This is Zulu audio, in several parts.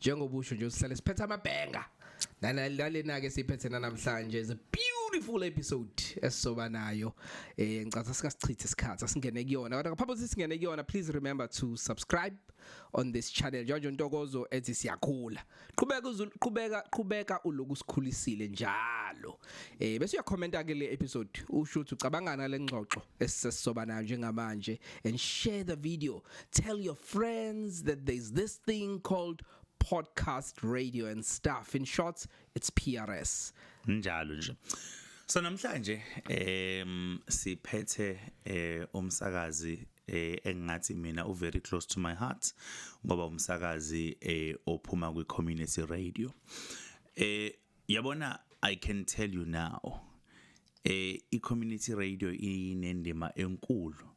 njengoba usho nje usisale siphethe amabhenga nalena ke siphethe namhlanje is a beautiful episode esizoba nayo eh ngicatha sikasichithe isikhathi asingene kuyona kodwa ngaphambi kokuthi singene kuyona please remember to subscribe on this channel George Ntokozo ethi siyakhula qhubeka qhubeka qhubeka uloku sikhulisile njalo eh bese uyakhomenta ke le episode usho ukuthi ucabangana lengxoxo esisoba nayo njengamanje and share the video Tell your friends that there's this thing called podcast radio and stuff. In short, it's PRS. Njalo nje. So namhlanje em siphethe eh umsakazi eh engathi mina u very close to my heart ngoba umsakazi eh ophuma kwi community radio. Eh yabona i can tell you now eh i-community radio inendima enkulu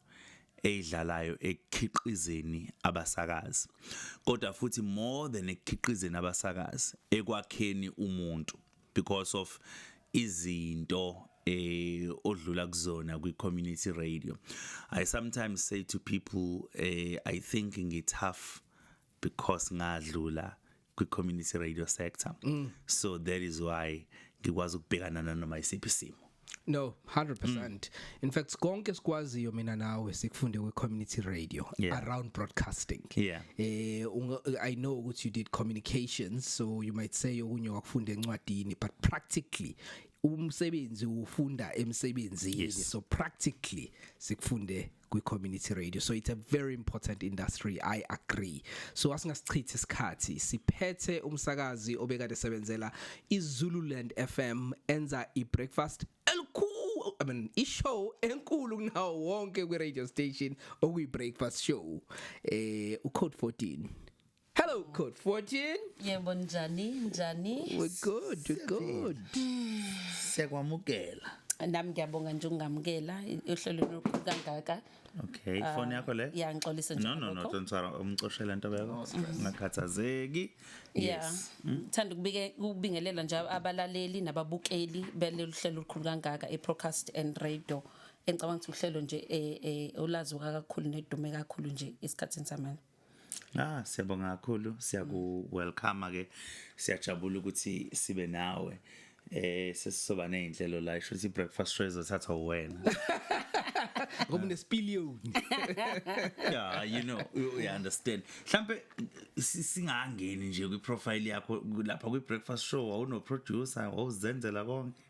eyidlalayo ekukhiqizeni abasakazi kodwa futhi more than ekukhiqizeni abasakazi ekwakheni umuntu because of izinto eh odlula kuzona kwi community radio i sometimes say to people eh i think ngi tough because ngadlula kwi community radio sector mm. so that is why ngikwazi ukubhekana nanoma isiphi simo No 100%. Mm. In fact konke sikwaziyo mina nawe sikufunde kwi community radio yeah. around broadcasting. Yeah. Eh I know ukuthi you did communications so you might say okunye wakufunda encwadini but practically umsebenzi ufunda emsebenzini yes. so practically sikufunde kwi-community radio so it's a very important industry i agree so asingasichithe isikhathi siphethe umsakazi obekade sebenzela izululand fm enza i-breakfast elikhulu i mean ishow enkulu kunawo wonke kwi-radio station okuyi-breakfast show eh u-code 14 Hello code 14. Yebo njani njani? We're good, we're good. Siyakwamukela. Nami ngiyabonga nje ungamukela uhlelo lokhu kangaka. Okay, ah, phone yakho le? Yeah, ngixolise nje. No no no, don't sorry, umcoshela into yakho. Ngakhathazeki. Yes. Hmm? Thanda ukubike ukubingelela nje abalaleli nababukeli belolu hlelo olukhulu kangaka eProcast and Radio. Engicabanga ukuthi uhlelo nje eh, eh olazi kakhulu nedume kakhulu nje esikhatsini samanje. Ah siyabonga kakhulu siyaku welcome ke siyajabula ukuthi sibe nawe eh sesizoba nezinhlelo la isho ukuthi breakfast show ezothathwa wena ngoba unesipiliyoni yeah you know you, you understand mhlambe singangeni nje kwi profile yakho lapha kwi breakfast show wawuno producer wawuzenzela konke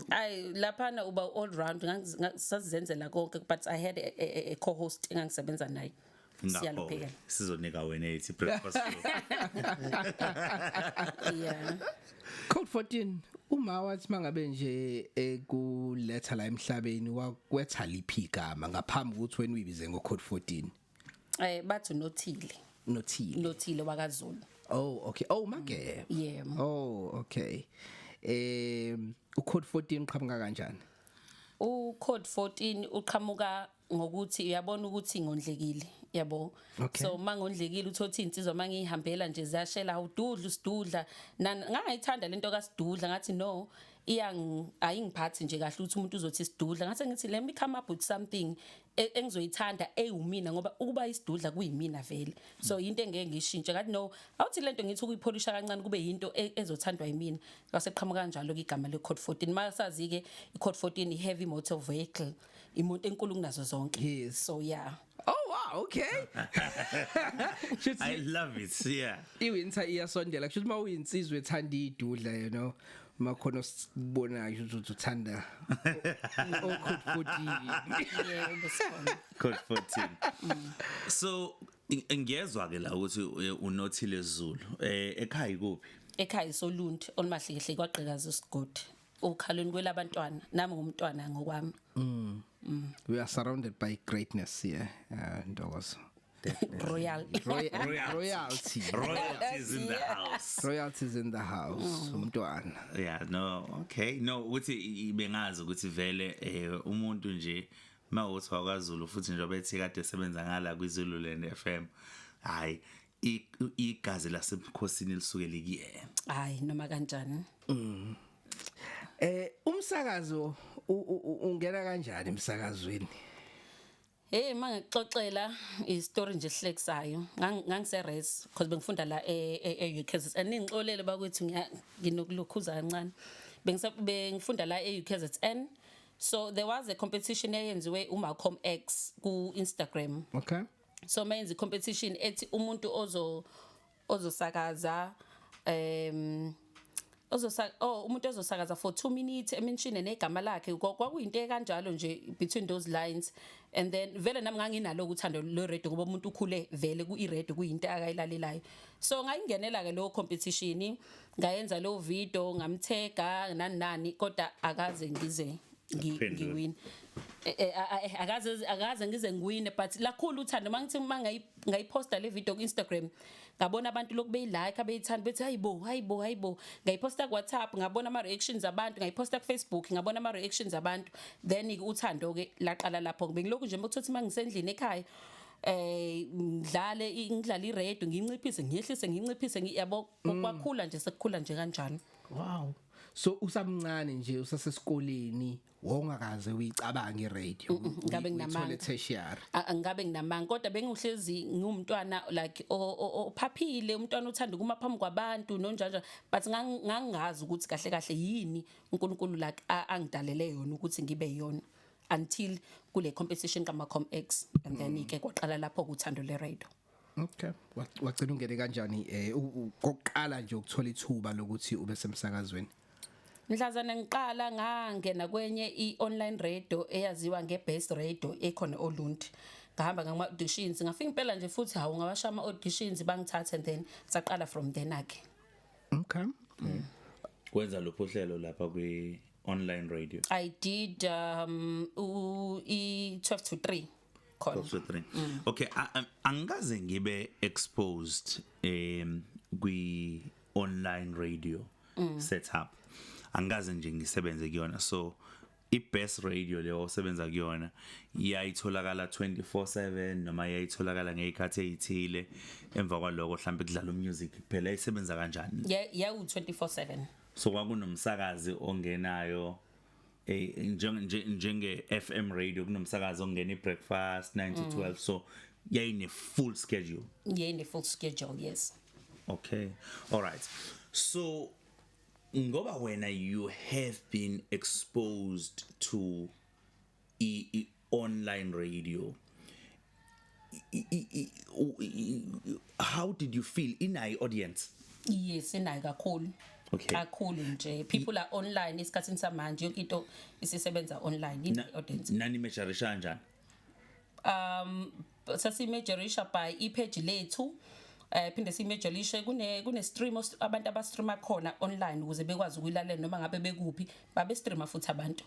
Ay laphana uba all round ngasazenzela konke but I had a, a, a co-host engangisebenza naye. Siyalupheka. Sizonika wena ethi breakfast. Yeah. Code 14 uma wathi mangabe nje ekuletha la emhlabeni wakwetha liphi igama ngaphambi ukuthi wena uyibize ngo code 14. eh bathi nothile nothile nothile wakazulu oh okay oh magebe mm, yeah oh okay eh u code 14 uqhamuka kanjani u code 14 uqhamuka ngokuthi uyabona ukuthi ngondlekile yabo okay. so mangondlekile uthothi insizwa mangihambela nje ziyashela awududla usidudla ngangayithanda lento kasidudla ngathi no iyang ayingiphathi nje kahle ukuthi umuntu uzothi sidudla ngathi ngithi let me come up with something e, engizoyithanda eyiwumina ngoba ukuba isidudla kuyimina vele so into engeke ngishintshe ngathi no awuthi lento ngithi ukuyipholisha kancane kube yinto e, ezothandwa yimina ngase qhamuka kanjalo ke igama le code 14 masazi ke i code 14 i heavy motor vehicle imoto enkulu kunazo zonke Yes. so yeah Oh wow, okay. Shuthi I love it. Yeah. iwinter iyasondela kusho ukuthi uma uyinsizwa ethanda idudla you know makhona sibonayo ukuthi uthanda okhut 14 yebo sikhona code 14 so i- ngiyezwa ke la ukuthi u- unothile Zulu eh ekhaya ikuphi ekhaya soluntu olumahlekhle kwagqikaza isigodi ukhalweni kwelabantwana nami ngumntwana ngokwami we are surrounded by greatness here uh, ntokozo royalty royalty royalties in the house royalties in the house mm. umntwana yeah no okay no ukuthi bengazi ukuthi vele eh, umuntu nje mawuthi wakwaZulu futhi njengoba ethi kade sebenza ngala kwiZulu Land FM hayi igazi lasebukhosini lisuke likuyena hayi noma kanjani mm eh umsakazo ungena kanjani emsakazweni Hey uma ngikuxoxela istory nje ehlekisayo ngangise res because bengifunda la e-UKZN e, e ningixolele bakwethu nginokulukhuza kancane bengise bengifunda la e-UKZN so there was a competition eyenziwe uMalcolm X ku Instagram okay so mayenza competition ethi umuntu ozo ozosakaza um ozosa oh umuntu ozosakaza for 2 minutes emenshine negama lakhe kwakuyinto ekanjalo nje between those lines and then vele nami nganginalo ukuthanda lo radio ngoba umuntu ukhule vele ku radio kuyinto akayilalelayo so ngayingenela ke lo competition ngayenza lo video ngamthega nani nani kodwa akaze ngize ngiwin eh, eh, eh, akaze akaze ngize ngiwine but lakhulu uthando mangithi mangayi ngayiposta le video ku-instagram ngabona abantu lokhu beyilike abeyithanda bethi hayi bo hayi bo hayi bo ngayiposta kuwhatsapp ngabona ama-reactions abantu ngayiposta kufacebook ngabona ama-reactions abantu then-ke uthando-ke laqala lapho bengilokhu nje mokuthothi uma ngisendlini ekhaya eh ngidlale ngidlale iredo nginciphise ngiyehlise nginciphise ngiyabo mm. kwakhula nje sekukhula nje kanjalo wow so usamncane nje usasesikoleni wongakaze uyicabanga iradio ngabe nginamanga tertiary ngabe nginamanga kodwa bengihlezi ngumntwana like ophaphile umntwana uthanda kuma phambi kwabantu nonjanja but ngangazi ukuthi kahle kahle yini uNkulunkulu like angidalele yona ukuthi ngibe yona until kule competition kama com x and then mm. ke kwaqala lapho kuthando le radio Okay. Wagcina ungene kanjani eh kokuqala nje ukuthola ithuba lokuthi ube semsakazweni? Mhlazana ngiqala ngangena kwenye i-online radio eyaziwa nge-Best Radio ekhona oLundi. Ngahamba ngama auditions ngafika impela nje futhi hawu ngawasha ama auditions bangithathe and then saqala from then ake. Okay. Mm. Kwenza lopho hlelo lapha kwi online radio. I did um u 12 to 3. khona Box with three. Okay, a- a- angikaze ngibe exposed um kwi online radio setup. Angikaze nje ngisebenze kuyona. So i best radio leyo osebenza kuyona iyayitholakala 24/7 noma iyayitholakala ngezikhathi ezithile emva kwaloko mhlawumbe kudlala umusic kuphela isebenza kanjani? Ya- yawu 24/7 So kwakunomsakazi ongenayo eh njenge njenge FM radio kunomsakazo ongena ibreakfast 9 to 12 mm. so yayine full schedule yayine full schedule yes okay all right so ngoba wena you have been exposed to i online radio how did you feel in i audience yes inayo kakhulu okay. kakhulu nje people are online isikhathini samanje yonke into isisebenza online in audience nani measurisha kanjani um sasimeasurisha by ipage lethu eh phinde simejolishe kune kune stream abantu abastreama khona online ukuze bekwazi ukuyilalela noma ngabe bekupi babe streama futhi abantu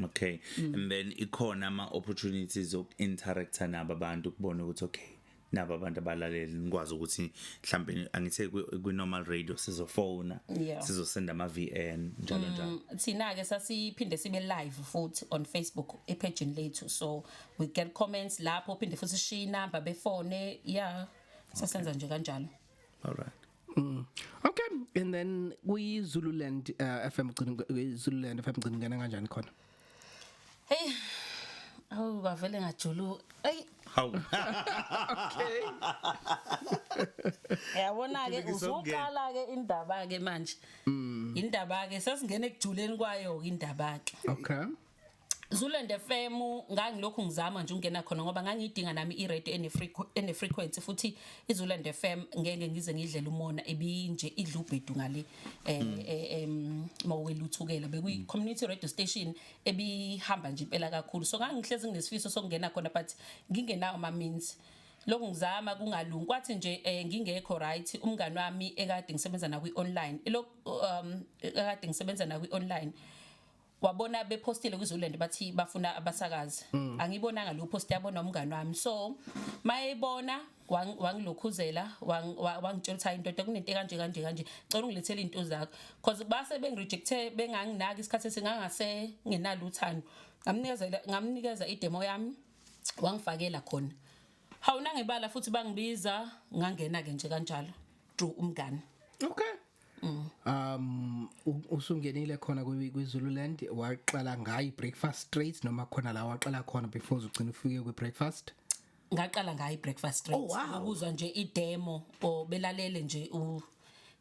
okay mm. and then ikhona ama opportunities ok interactor nabo abantu kubona ukuthi okay nabo abantu abalaleli nikwazi ukuthi mhlambe angithe kwi normal radio sizofona yeah. sizosenda ama VN njalo mm, njalo thina ke sasiphinde sibe live futhi on Facebook e page lethu so we get comments lapho phinde futhi sishiya number befone yeah sasenza okay. nje kanjalo all right Mm. Okay, and then we Zululand uh, FM gcina Zululand FM gcina ngena kanjani khona? Hey. Awu bavele ngajulu. Ey. Hawu. Okay. Yabona ke uzoqala ke indaba ke manje. Mm. Indaba ke sasingena ekujuleni kwayo indaba ke. Okay. Zulende FM ngangilokhu ngizama nje ungena khona ngoba ngangiyidinga nami i-radio ene frequency futhi iZulende FM ngeke ngize ngidlela umona ebinje idlubhedu ngale eh, hmm. eh em mawukeluthukela bekuyi hmm. community radio station ebihamba nje impela kakhulu so ngangihlezi nginesifiso sokungena khona but ngingenawo ama means lokhu ngizama kungalungi kwathi nje eh, ngingekho right umngani wami ekade ngisebenza na kwi online lokhu um ekade ngisebenza na kwi online wabona bephostile kwiZululand bathi bafuna abasakazi mm. angibonanga lo post yabona umngani wami so mayebona wangilokhuzela wangitshela ukuthi hayi ndoda kunento kanje kanje kanje cela ungilethele into zakho because base bengirejecte benganginaki isikhathi esingangase nginalo uthando ngamnikeza ngamnikeza idemo yami wangifakela khona hawuna ngebala futhi bangibiza ngangena ke nje kanjalo drew umngani okay Mm. Um usungenile khona kwiZululand waqala ngayi breakfast straight noma khona la waqala khona before uzugcina ufike kwi breakfast? Ngaqala ngayi breakfast straight. Oh, wow. Ukuzwa nje i demo or belalele nje u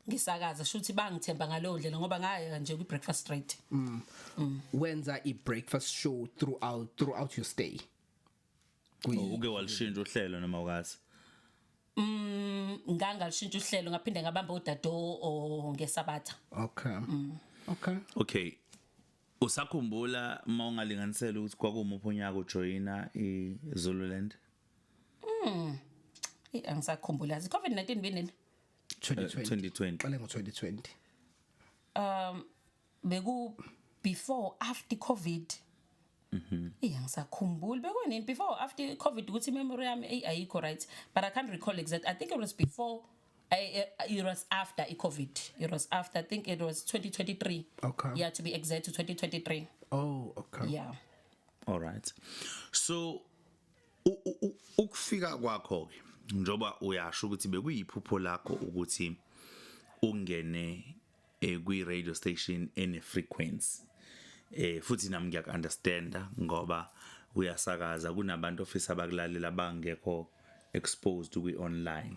ngisakaza shuthi bangithemba ngalowo ndlela ngoba ngaya nje kwi breakfast straight. Mm. mm. Wenza i breakfast show throughout throughout your stay. Oh, uke walishintsha uhlelo noma ukazi? Mm ngangalishintsha uhlelo ngaphinde ngabamba udado o ngesabatha. Okay. Mm. Okay. Okay. Usakhumbula uma ungalinganisela ukuthi kwakumuphi unyaka ujoyina iZululand? Mm. Eh angisakhumbula. Covid-19 benini? 2020. Qale ngo-2020. Um beku before after covid Mhm. Yeah, ngisakhumbula bekunini before after covid ukuthi memory yami eyi ayikho right but i can't recall exact i think it was before I, uh, it was after i-covid it was after i think it was 2023 Okay. yeah to be exact 2023 Oh, okay. yeah all right so u- u- u- ukufika kwakho ke njoba uyasho ukuthi bekuyiphupho lakho ukuthi ungene eh kwi radio station ene frequency eh futhi nami ngiyak understanda ngoba uyasakaza kunabantu ofisa abakulalela bangekho exposed kwi online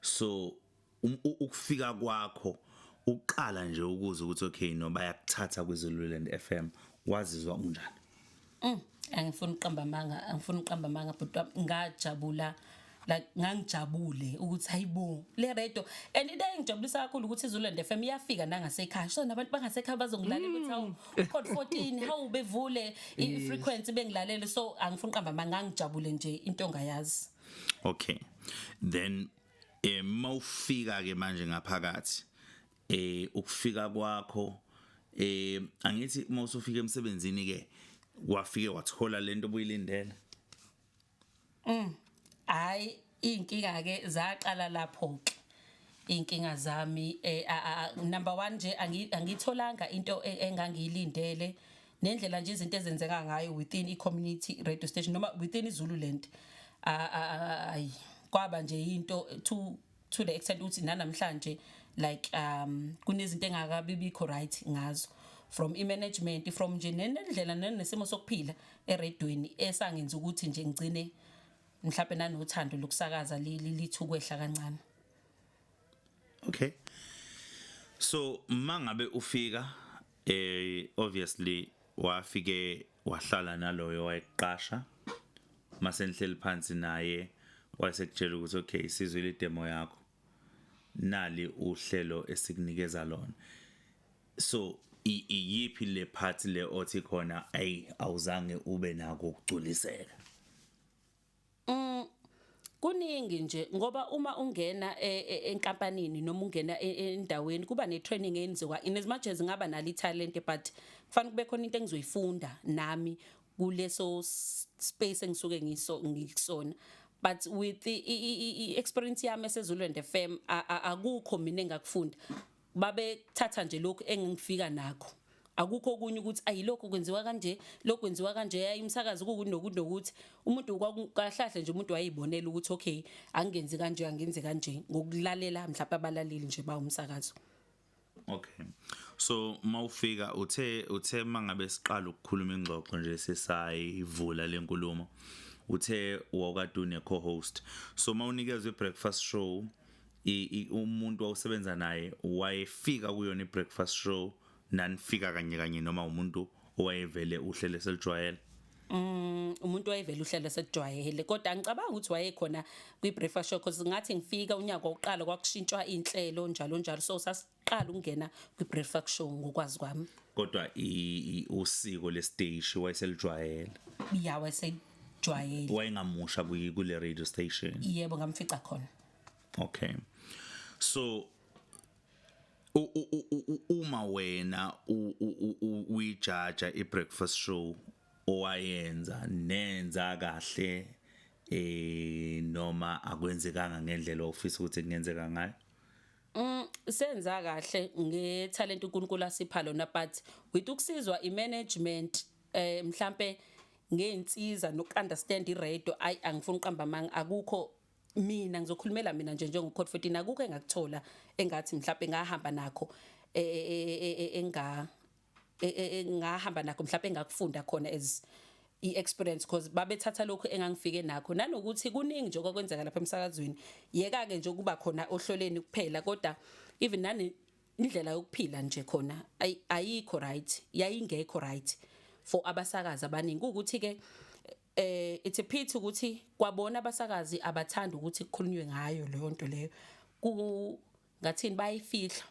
so um, ukufika kwakho uqala nje ukuza ukuthi okay no bayakuthatha kwiZululand FM wazizwa unjani Mm, angifuni uqamba amanga, angifuni uqamba amanga but ngajabula like ngangijabule ukuthi hayibo le radio and into engijabulisa kakhulu ukuthi iZululand FM iyafika nangasekhaya so nabantu bangasekhaya bazongilalela ukuthi hawu mm. code 14 hawu bevule i frequency bengilalele so angifuni uqamba amanga ngijabule nje into ongayazi okay then eh mawufika ke manje ngaphakathi eh ukufika kwakho eh angithi uma usufika emsebenzini ke wafike wathola lento obuyilindele mm hayi inkinga ke zaqala lapho ke inkinga zami eh number 1 nje angitholanga into e, engangiyilindele nendlela nje izinto ezenzeka ngayo within i community radio station noma within izululand ayi kwaba nje into to to the extent ukuthi nanamhlanje like um kunezinto engakabi bikho right ngazo from i-management from nje nendlela nesimo sokuphila eredweni esangenza ukuthi nje ngigcine mhlawumbe nanothando lokusakaza lithi ukwehla kancane okay so mangabe ufika eh obviously wafike wahlala naloyo wayeqasha mase nihleli phansi naye wayesekutshela ukuthi okay isizwe le demo yakho nali uhlelo esikunikeza lona so iyiphi le part le othi khona ayi awuzange ube nako ukugculiseka Mm, kuningi nje ngoba uma ungena e, e, enkampanini noma ungena e, endaweni kuba ne-training eyenziwa in as much as ngaba nalo i-talent but kufanele kube khona into engizoyifunda nami kuleso space engisuke ngiso ngikusona but with i-experience yami esezulwende fam akukho mina engakufunda babethatha nje lokhu engifika nakho akukho okunye ukuthi ayilokho kwenziwa kanje lokho kwenziwa kanje yayimsakazi ukuthi nokuthi nokuthi umuntu kwakuhlahle nje umuntu wayibonela ukuthi okay angenzi kanje angenzi kanje ngokulalela mhlawumbe abalaleli nje bawumsakazo Okay. So mawufika uthe uthe mangabe siqala ukukhuluma ingxoxo nje sesayivula lenkulumo. Uthe wawukade une co-host. So mawunikezwe breakfast show umuntu wawusebenza naye wayefika kuyona i-breakfast show nanifika kanye kanye noma umuntu owayevele uhlele selijwayele Mm umuntu wayevela uhlelo sekujwayele kodwa ngicabanga ukuthi wayekhona kwi breakfast show because ngathi ngifika unyaka oqala kwakushintshwa inhlelo njalo njalo so sas qala ukungena kwi-breakfast show ngokwazi kwami kodwa usiko lesiteshi wayeselijwayela ya wayesejwayele wayengamusha kule radio station yebo ngamfica khona okay so uma wena uyijaja i-breakfast show owayenza nenza kahle eh noma akwenzekanga ngendlela ofisa ukuthi kungenzeka ngayo Mm, senza kahle ngetalent uNkulunkulu asipha lona but with ukusizwa imanagement eh mhlambe ngeinsiza nokunderstand iradio ayi angifuni uqamba amanga akukho mina ngizokhulumela mina nje njengo code 14 akukho engakuthola engathi mhlawumbe ngahamba nakho e, e, e, enga e, e, e, ngahamba nakho mhlawumbe engakufunda khona as i-experience because babethatha lokhu engangifike nakho nanokuthi kuningi nje okwakwenzeka lapha emsakazweni yeka-ke nje ukuba khona ohloleni kuphela kodwa even nani indlela yokuphila nje khona ayikho right yayingekho right for abasakazi abaningi ukuthi ke eh it's a pity ukuthi kwabona abasakazi abathanda ukuthi kukhulunywe ngayo leyo nto leyo ku ngathini bayifihla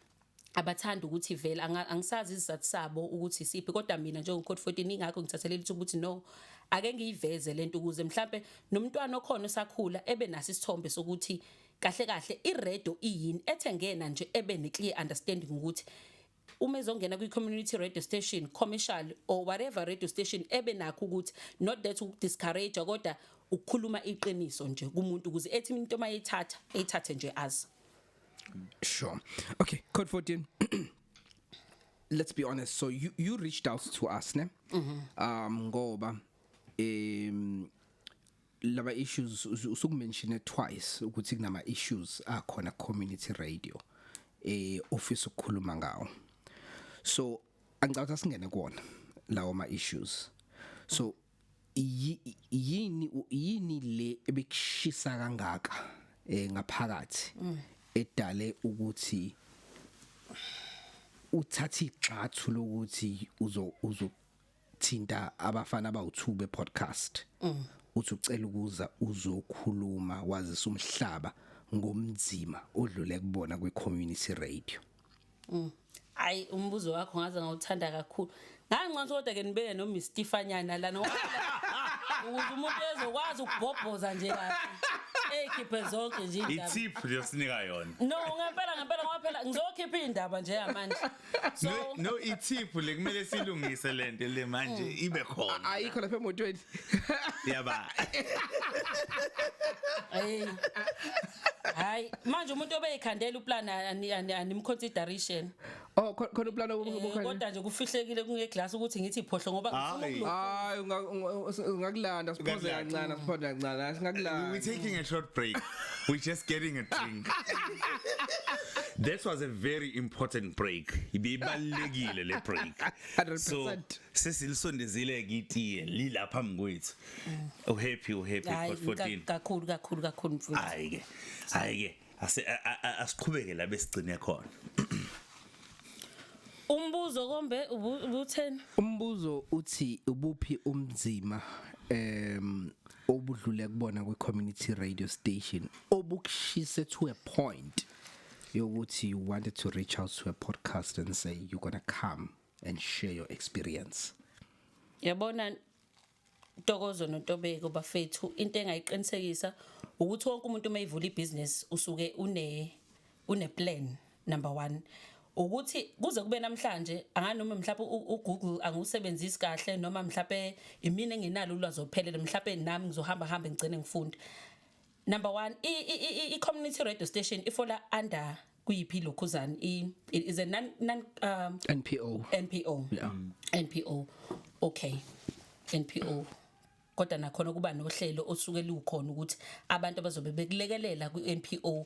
abathanda ukuthi vele angisazi izizathu sabo ukuthi siphi kodwa mina njengocode 14 ingakho ngithathelele ithuba ukuthi no ake ngiyiveze lento ukuze mhlambe nomntwana okhona osakhula ebe naso isithombe sokuthi kahle kahle iredo iyini ethengena nje ebe ne clear understanding ukuthi uma ezongena kwi-community radio station commercial or whatever radio station ebe nakho ukuthi not that ukudiscourage kodwa ukukhuluma iqiniso nje kumuntu ukuze ethi into mayithatha eyithathe nje azi sure okay code 14 let's be honest so you you reached out to us ne mm -hmm. um ngoba um laba issues usukumenshine twice ukuthi kunama issues akhona community radio eh office ukukhuluma ngawo so angicabanga singene kuona lawo ma issues so yini yini le ebekushisa kangaka eh ngaphakathi mm. edale ukuthi uthatha igxathu lokuthi uzo uzo thinta abafana abawu2 be podcast mm. uthi ucela ukuza uzokhuluma wazisa umhlaba ngomzima odlule kubona kwi community radio mm. Hayi umbuzo wakho ngaze ngawuthanda kakhulu. Nganconsa kodwa ke nibeke no Miss Stefanyana lana. Ukuze umuntu ezokwazi ukubhobhoza nje kahle. ekhiphe zonke nje indaba. Itip liyosinika yona. No ngempela ngempela ngoba phela ngizokhipha indaba nje yamanje. so no, no ithiphu le kumele silungise lento le manje mm. ibe khona ayikho lapha emotweni yaba hey hayi manje umuntu obeyikhandela uplan animconsideration oh khona uplan wokukhona eh, kodwa nje kufihlekile kungeglass ukuthi ngithi iphohlo ngoba ngifuna hayi ungakulanda siphoze kancane siphoze kancane singakulanda we taking a short break We're just getting a drink. That was a very important break. Ibibalekile le break. 100%. So sesilisondezile kitiye lilapha mkwethu. Oh happy, oh happy Hayi, for 14. ka- kakhulu kakhulu kakhulu mfowethu Hayi ke. Hayi ke. Ase a- a- a- asiqhubeke la besigcine khona. umbuzo kombe ubu- ubutheni umbuzo uthi ubuphi umzima em obudlule kubona kwi community radio station obukushise to a point yokuthi you wanted to reach out to a podcast and say you're going to come and share your experience yabona Ntokozo noNtobeko bafethu into engayiqinisekisa ukuthi wonke umuntu uma evula ibusiness usuke une une plan number 1 ukuthi kuze kube namhlanje anganoma mhlawumbe uGoogle angiwusebenzisi kahle noma mhlawumbe imina engenalo ulwazi ophelele mhlawumbe nami ngizohamba hamba ngigcine ngifunda number 1 i community radio station ifola under kuyiphi lokhuzani i is a non non um, NPO NPO yeah. NPO okay NPO kodwa nakhona kuba nohlelo osuke lukhona ukuthi abantu abazobe bekulekelela kwi-NPO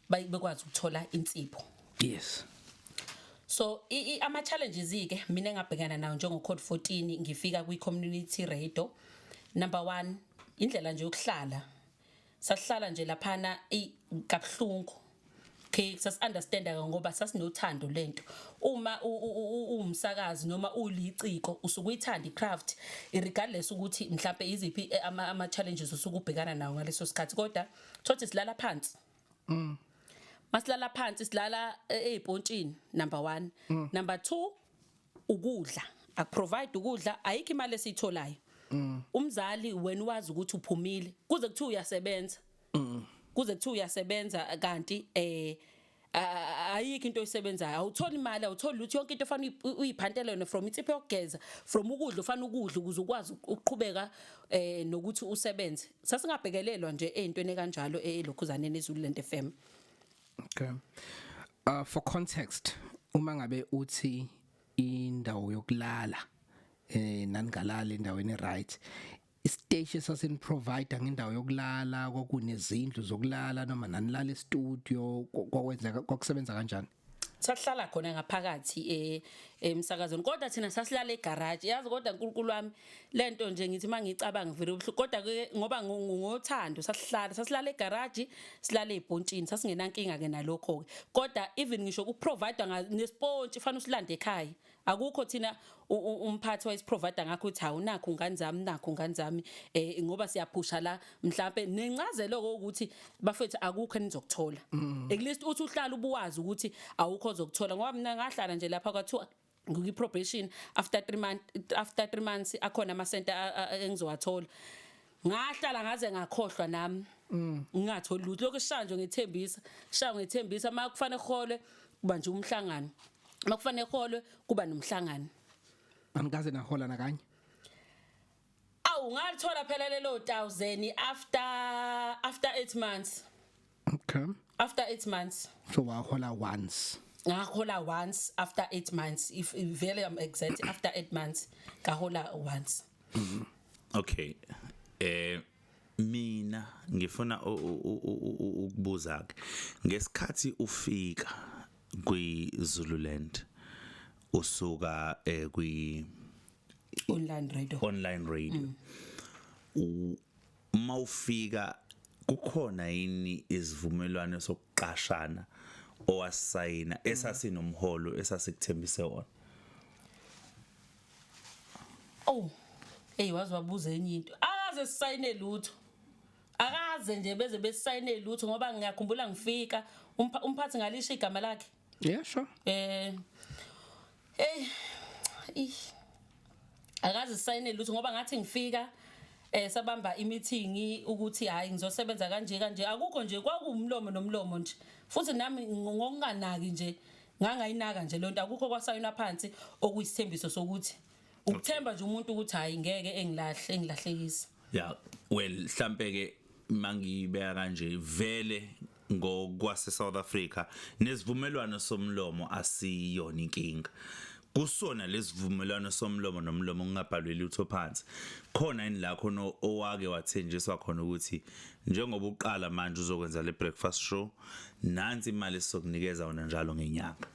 bekwazi ukuthola insipho yes so ama challenges ke mina engabhekana nawo njengo code 14 ngifika kwi community radio number 1 indlela nje yokuhlala Sasihlala nje laphana eyi kabuhlungu. Okay, sasi-understanda ke ngoba sasinothando lento. Uma u- u- u- u- uwumsakazi noma uliciko usuke uyithanda i-craft regardless ukuthi mhlampe iziphi eh, ama ama challenges usuke ubhekana nawo ngaleso sikhathi kodwa thothi silala phansi. Masilala phansi silala eh, ezipontshini number 1. Number 2 ukudla akuprovide ukudla ayikho imali esiyitholayo mm. umzali wena wazi ukuthi uphumile kuze kuthiwa uyasebenza mm. kuze kuthiwa uyasebenza kanti eh ayikho into oyisebenzayo awutholi imali awutholi lutho yonke into fanele uyiphantela yona from insipho yokugeza from ukudla ufanele ukudla ukuze ukwazi ukuqhubeka eh nokuthi usebenze sasingabhekelelwa nje ezintweni kanjalo elokhuzaneni ezulu lento FM Okay. Uh for context uma ngabe uthi indawo yokulala eh nanigalala endaweni right isiteshi sasini provider ngendawo yokulala kwakunezindlu zokulala noma nanilala e-studio kwakwenzeka kwakusebenza kanjani sahlala khona ngaphakathi eh, emsakazweni kodwa thina sasilala egarage yazi kodwa uNkulunkulu wami lento nje ngithi mangicabanga ngivele ubuhlungu kodwa ke ngoba ngothando sasihlala sasilala egarage silale ibhontshini sasingenankinga ke nalokho ke kodwa even ngisho ukuprovider nespontshi fanele usilande ekhaya akukho thina umphathi wayisiprovider ngakho uthi awunakho ngane zami nakho ngane zami eh ngoba siyaphusha la mhlambe nencazelo ukuthi bafethu akukho enizokuthola mm. at least uthi uhlala ubuwazi ukuthi awukho ozokuthola ngoba mina ngahlala nje lapha kwathiwa ngikwi probation after 3 months after 3 months akhona ama center engizowathola ngahlala ngaze ngakhohlwa nami mm. ngingatholi lutho lokho shanjo ngethembisa shanjo ngethembisa makufanele khole kuba nje umhlangano makufanele khole kuba nomhlangano angikaze nahola nakanye awu ngalithola phela lelo 1000 after after 8 months okay after 8 months so wahola once ngahola once after 8 months if vele am exact after 8 months ngahola once mm-hmm. okay eh mina ngifuna ukubuza ke ngesikhathi ufika kwi Zululand usuka eh kwi online radio online radio mm. uma ufika kukhona yini izivumelwano sokuqashana owasayina esasinomholo esasikuthembise wona oh hey wazi wabuza enye into akaze sisayine lutho akaze nje beze besisayine lutho ngoba ngiyakhumbula ngifika umphathi ngalisho igama lakhe yeah sure eh hey ish akazi sayine lutho ngoba ngathi ngifika eh sabamba imeeting ukuthi hayi ngizosebenza kanje kanje akukho nje kwakuwumlomo nomlomo nje futhi nami ngokunganaki nje ngangayinaka nje lonto akukho kwasayona phansi okuyisithembiso sokuthi ukuthemba nje umuntu ukuthi hayi ngeke engilahle engilahlekisa yeah well mhlambe ke mangibeka kanje vele ngokwase South Africa nesivumelwano somlomo asiyona inkinga kusona lesivumelwano somlomo nomlomo ngingabhalwe lutho phansi khona yini la khona owake wathenjiswa khona ukuthi njengoba uqala manje uzokwenza le breakfast show nansi imali sokunikeza wona njalo ngenyanga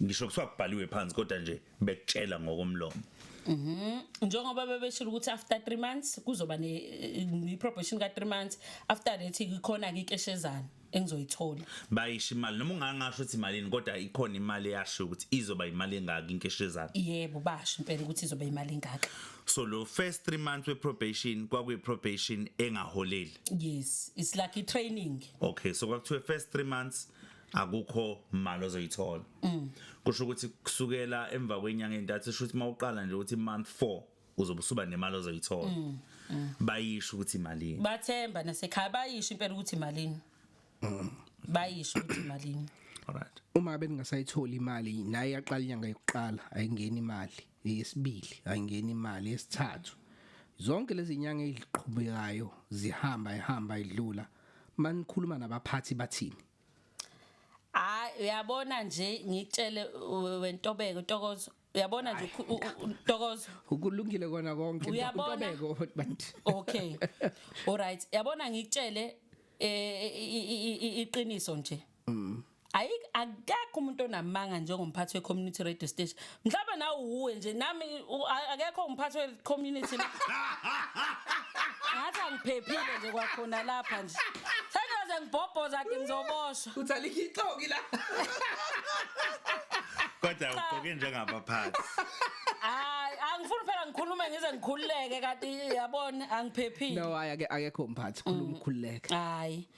ngisho kuthiwa kubhaliwe phansi kodwa nje bekutshela ngokomlomo Mhm. Njengoba bebeshilo ukuthi after 3 months kuzoba ne ne probation ka 3 months after that ikhona ke ikeshezana engizoyithola. bayisho imali noma ungangasho ukuthi imalini kodwa ikhona imali eyasho ukuthi izoba imali engaki inkeshezana Yebo basho impela ukuthi izoba imali engaka. so lo first 3 months we probation kwakuyi probation engaholeli Yes, it's like i training. okay so kwakuthiwe first 3 months akukho imali ozoyithola mm. kusho ukuthi kusukela emva kwenyanga entathu esho ukuthi mawuqala nje ukuthi month 4 uzobusuba nemali ozoyithola mm, mm. bayisho ukuthi malini bathemba nasekhaya bayisho impela ukuthi malini bayisho ukuthi malini alright uma beningasayithola imali naye yaqala inyanga yokuqala ayingeni imali yesibili ayingeni imali yesithathu zonke lezi nyanga eziqhubekayo zihamba ihamba idlula manikhuluma nabaphathi bathini hayi uyabona nje ngitshele wentobeko ntokozo uyabona nje ntokozo ukulungile kona konke ntobeko but okay all right yabona ngitshele eh, iqiniso nje mm. ayi akekho umuntu onamanga njengomphathi we-community radio station mhlawumbe nawe uwuwe nje nami akekho umphathi we-community ngathi angiphephile nje kwakhona lapha nje sengiyoze ngibhobhoza ke ngizoboshwa uthi alikhixoki la kodwa ugqoke njengabaphathi hayi angifuni phela ngikhulume ngize ngikhululeke kanti yabona angiphephile no hayi akekho umphathi khuluma mm. ukhululeke hayi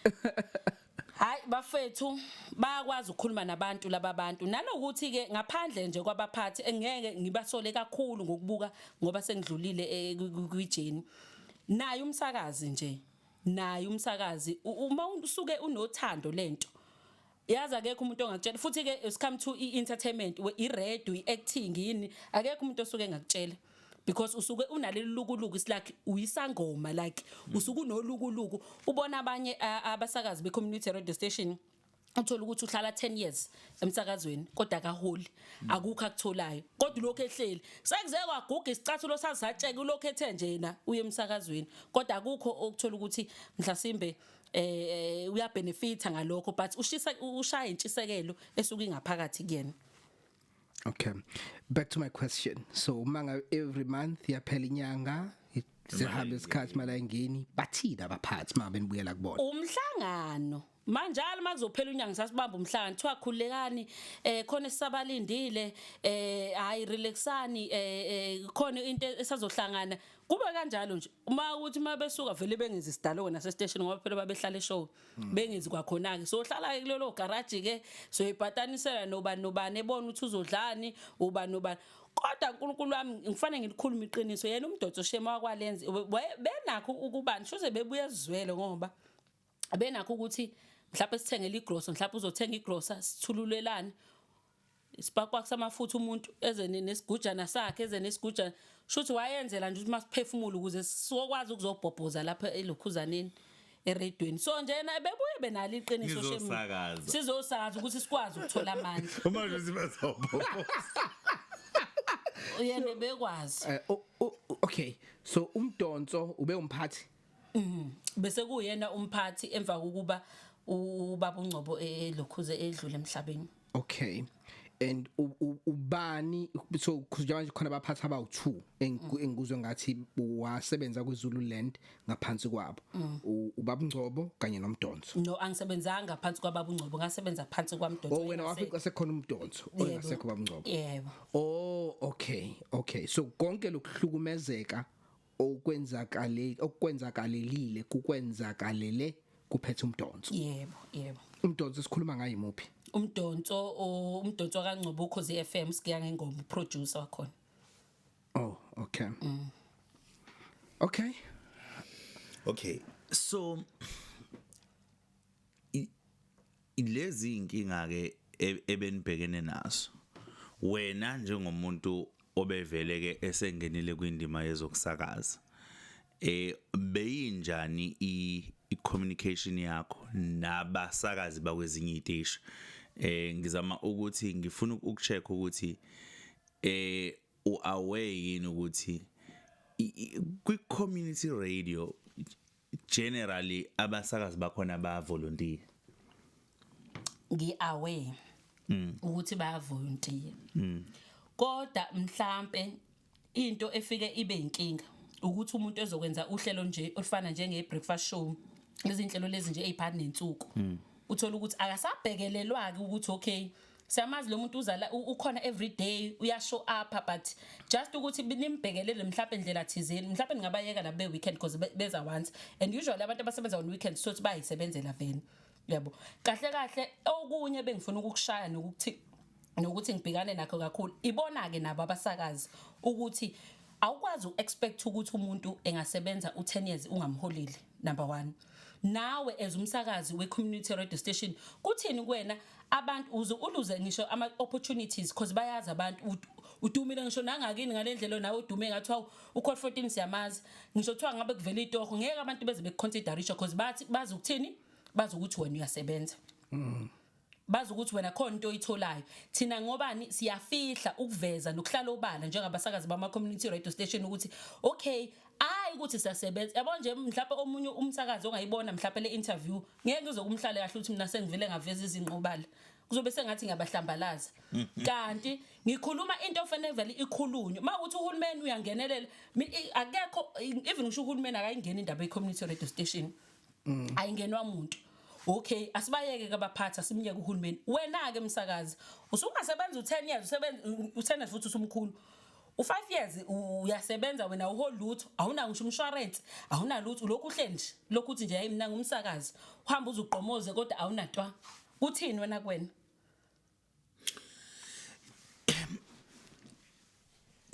Hayi bafethu bayakwazi ukukhuluma nabantu laba bantu nalokuthi ke ngaphandle nje kwabaphathi engeke ngibasole kakhulu ngokubuka ngoba sengidlulile eh, kwi- kwi- kwijeni naye umsakazi nje naye umsakazi u- uma usuke unothando lento yazi akekho umuntu ongakutshela futhi ke it's come to i-entertainment we- i-radio i-acting yini akekho umuntu osuke engakutshela because usuke unaleli lukuluku is like uyisangoma like mm. usuke unolukuluku ubona abanye abasakazi be community radio station uthola ukuthi uhlala 10 years emsakazweni kodwa akaholi mm. akukho akutholayo kodwa lokho ehleli sekuze kwaguga isicathulo sazatsheke lokho ethe nje yena uye emsakazweni kodwa akukho okuthola ukuthi mhlasimbe Eh, eh uyabenefita ngalokho but ushisa ushaya intshisekelo esuke ingaphakathi kuyena Okay. Back to my question. So umanga every month yaphela inyanga sihambe isikhathi mala ingeni bathina abaphathi uma benibuyela kubona. Umhlangano manjalo makuzophela unyanga sasibamba umhlangano kuthiwa khulekani eh khona esisabalindile eh hayi relaxani eh, eh khona into esazohlangana kube kanjalo nje uma ukuthi uma besuka vele bengenzi sidaloke nasesiteshini ngoba phela babehlala eshow hmm. bengenzi kwakhona-ke so hlala-ke kulelo garaji-ke soyibhatanisela nobani nobani ebona ukuthi uzodlani ubani nobani kodwa uNkulunkulu wami ngifanele ngilikhulume iqiniso yena umdotso shema wakwalenze benakho ukubani shoze bebuye ezwele ngoba abenakho ukuthi mhlawumbe sithengele igrosa mhlawumbe uzothenga igrosa sithululelane isibhakwakho samafutha umuntu eze nesigujana sakhe eze nesigujana shuthi wayenzela nje ukuthi masiphefumule ukuze sokwazi ukuzobhobhoza lapha elokhuzaneni eredweni so njena bebuye benalo iqiniso shemini sizosakaza ukuthi sikwazi ukuthola amandla uma nje sibazobhobhoza yena bekwazi eh, okay so umdonso ube umphathi Mhm. Bese kuyena umphathi emva kokuba ubaba uNgcobo elokhuze edlule emhlabeni. Okay. and ubani so kuzoba manje khona abaphathi abawu2 engikuzwe ngathi wasebenza kwiZululand ngaphansi kwabo mm. ubaba Ngcobo kanye nomdonso no angisebenzanga phansi kwababa Ngcobo ngasebenza phansi kwamdonso oh wena wafika sekhona umdonso ongasekho baba Ngcobo yebo oh okay okay so konke lokuhlukumezeka okwenzakale okwenzakalelile kukwenzakalele kuphethe umdonso yebo yebo umdonso sikhuluma ngaye muphi umdonso umdonso kaNgcobo ukhozi FM sikiya ngengoma producer wakhona oh okay mm. okay okay so Lezi inkinga ke e-, ebenibhekene nazo. Wena njengomuntu obevele ke esengenile kwindima yezokusakaza. Eh beyinjani i-communication yakho nabasakazi bakwezinye iziteshi? Eh ngizama ukuthi ngifuna ukucheck ukuthi eh uaware yini ukuthi kwi community radio generally abasakazi bakhona ba volunteer ngi away mm. ukuthi ba volunteer mm. kodwa mhlambe into efike ibe inkinga ukuthi umuntu ezokwenza uhlelo nje olufana njenge breakfast show izinhlelo lezi nje eziphana nensuku mm. uthola ukuthi akasabhekelelwa ke ukuthi okay siyamazi lo muntu uzala ukhona every day uyashow up but just ukuthi nimbhekelele mhlawumbe indlela thizeni mhlawumbe ningabayeka la be weekend because beza once and usually abantu abasebenza on weekend so ukuthi bayisebenzela veni yabo kahle kahle okunye bengifuna ukukushaya nokuthi nokuthi ngibhekane nakho kakhulu ibona ke nabo abasakazi ukuthi awukwazi uexpect ukuthi umuntu engasebenza u10 years ungamholeli number one nawe as umsakazi we-community radio station kuthini kuwena abantu uze uluze ngisho ama-opportunities because bayazi abantu ut- udumile ngisho nangakini ngale ndlela nawe udume ngathiwa ukhol 14 siyamazi ngisho kuthiwa ngabe kuvela itoho ngeke abantu beze bekuconsiderisha because bathi bazi ukuthini bazi ukuthi wena uyasebenza bazi ukuthi wena khona into oyitholayo thina ngobani siyafihla ukuveza nokuhlala obala njengabasakazi bama community radio station ukuthi okay hayi ukuthi siyasebenza yabo nje mhlawumbe omunye umsakazi ongayibona mhlawumbe le interview ngeke ngizokumhlale kahle ukuthi mina sengivele ngaveza izinqobala kuzobe sengathi ngiyabahlambalaza mm, mm. kanti ngikhuluma into ofanele vele ikhulunywe uma ukuthi uhulumeni uyangenelela akekho even ngisho uhulumeni akayingeni indaba ye community radio station mm. ayingenwa muntu okay asibayeke ke abaphathi asimyeke uhulumeni wena ke msakazi usungasebenza u10 years usebenza u10 years futhi usumkhulu u5 years uyasebenza wena uho lutho awuna ngisho umshwarensi awuna lutho lokhu uhle nje lokhu uthi nje hayi mina ngumsakazi uhamba uzuqomoze kodwa awunatwa kuthini wena kwena